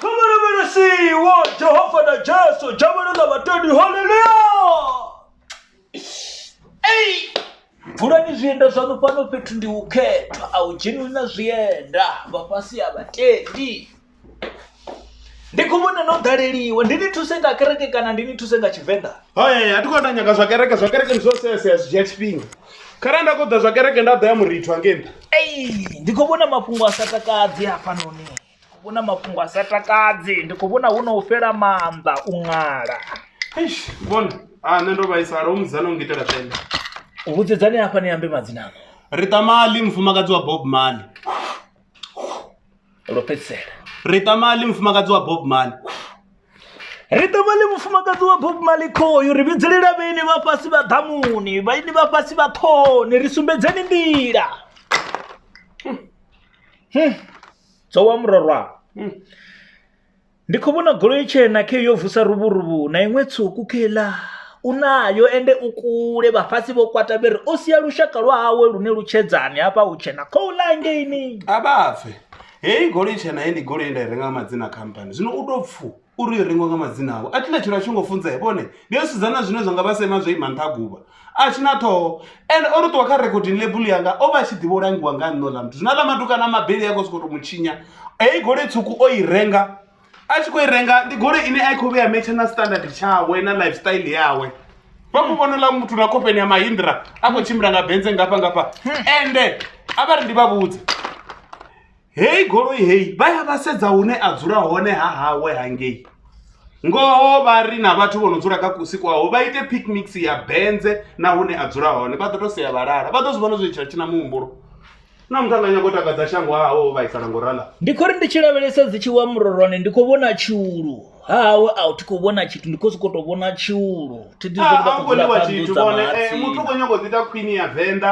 kha vha lavhelesiwo jehova na jesu dzhavhelo na vhatendi haleluya ei vulani zwienda zwaṋu fhano fhethu ndi u khethwa a u dzheniwi na zwienda vha fhasi ha vhatendi ndi khou vhona no ḓaleliwa ndi ni thuse nga kereke kana ndi ni thuse nga tshivenḓa Hai, a thi khou ita nyaga zwa kereke zwa kereke ndi zwo seasea zwi dzhia tshifhinga kharali nda khou ḓa zwa kereke nda ḓo ya murithu hangei nṱha ei ndi khou vhona mafhungo a sa takadzi hafhanoni Hu na mafhungo a sa takadzi ndi khou vhona hu no fhela maanḓa u ṅala Eish, vhona ah nṋe ndo vhaisala u muzana u ngitela tenda vhudzedzani hafha ni ambe madzina ano rita mali mufumakadzi wa bob mali lwo fhedzisela rita mali mufumakadzi wa bob mali ri ṱavhale mufumakadzi wa bob mali khoyu ri vhidzelela vhaini vha fhasi vha ḓamuni vhaini vha fhasi vha ṱhoni ri sumbedzeni nḓila Dzo wa murwa ndi kho vhona goloi tshena khe yo vusa luvhuruvhu na iṅwe tswuku khe iḽa u nayo ende u kule vhafhasi vho kwata vhari o sia lushaka lwa hawe lune lu tshedzani hafha hu tshena khou ḽa hangeini a vha pfe heyi goloi tshena he ndi goloi nda i renga madzina khamphani zwino u to pfhu uri yo rengiwa nga madzina avho a thi na tshilo a tshi ngo funzea vhone ndi yo sedzana zwine zwa nga vha sema zwo ima nṱha guvha a tshi na ṱhoho ende o ri ṱuwa kha recording label yanga o vha a tshi ḓivha u langiwa nga nṋe oḽa muthu zwina ḽa maduka na mabeli a khou sokou tou mu tshinya heyi goloi tswuku o i renga a tshi khou i renga ndi goloi ine a i khou vheya metshe na standard tshawe na lifestyle yawe vha mu vhona ḽa muthu na khofheni ya mahindra a khou tshimbila nga benze ngafha ngafha ende a vha ri ndi vha vhudze heyi goloi heyi vha ya vha sedza hune a dzula hone ha hawe hangei ngoho vha ri na vhathu vho no dzula kha kusi kwaho vha ite picnics ya benze na hune a dzula hone vha ḓo to sea vhalala vha ḓo zwi vhona zwi tshila tshi na muhumbulo na muthu anga nyago takadza shango hawo vhaisala ngo rala ndi khou ri ndi tshi lavhelesa dzi tshi wa murorwane ndi khou vhona tshiulu ha hawe a thi khou vhona tshithu ndi khou sokou tou vhona tshiulu thi ḓi zwi a u koniwa tshithu vhone muthu u khou nyago ḓi ita khwini ya venḓa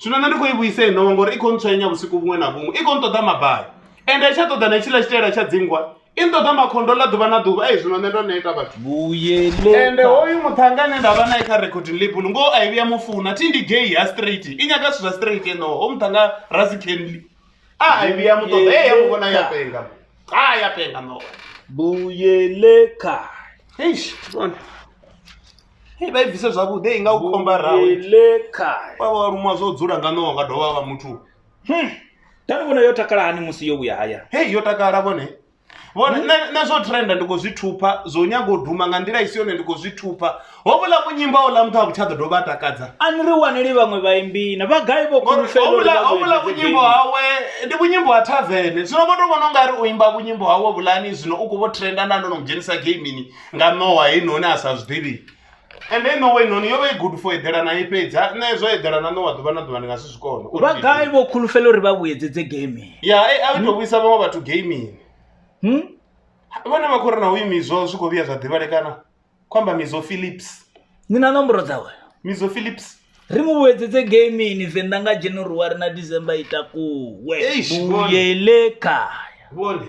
zwino nṋe ndi khou i vhuisa inowa ngori i khou ntswenya vhusiku vhuṅwe na vhuṅwe i khou nṱoḓa mabai ende tsha ṱoḓa na tshiḽa tshitaela tsha dzingwa i nṱoḓa makhondo ḽa ḓuvha na ḓuvha ei zwino nṋe ndo neta vhathu ende hoyu muṱhanga ane nda vha nae kha recording label ngoho a i vhuya mufuna thi ndi gay ha straight i nyaga zwithu zwa straight enoho ho muṱhanga rasi kenly a a i vhuya muṱoḓa e ya muvhona ya penga a ya penga no vuyeleka eish bona Hei, vha i bvise zwavhuḓi hei nga u khomba rawe Vuyile khae. vha vha luma zwo dzula nga ṋowa nga dovha vha muthu Hmm. Tani vhona yo takala hani musi yo vhuya haya. hei yo takala vhone vhone nṋe- nṋe zwo trenda ndi khou zwi thupha zwo nyaga u duma nga nḓila i si yone ndi khou zwi thupha hovhuḽa vhunyimba houḽa muthu a vhu tsha ḓo dovha a takadza A ni ri waneli vhaṅwe vhaimbi na vha gai vho Ngori khulufhela uri vha hovhuḽa hovhuḽa vhuedze vhunyimbo game. hawe ndi vhunyimbo ha thavene zwino vho to vhona ungari u imba vhunyimbo hawe vhulani zwino u khou vho trenda nda ndo no mu dzhenisa gamini nga ṋowa heinoni a sa zwi ḓivhi ende i ṋowa heinoni yo vha i good for eḓela na i fhedza nṋe zwo eḓela na ṋowa ḓuvha na ḓuvha ndi nga si zwi kone Uri vha ndi- gai vho khulufhela uri vha vhuyedzedze gaming ya eh, a i tou vhuisa vhaṅwe vhathu gaming hmm? vhone vha khou ri na uyu mizo zwi khou vhuya zwa ḓivhalekana khou amba mizo philips ni na nomboro dzawe mizo philips ri mu vhuyedzedze gaming venḓa nga january na december i takuwe Eish, vhuyele kaya vhone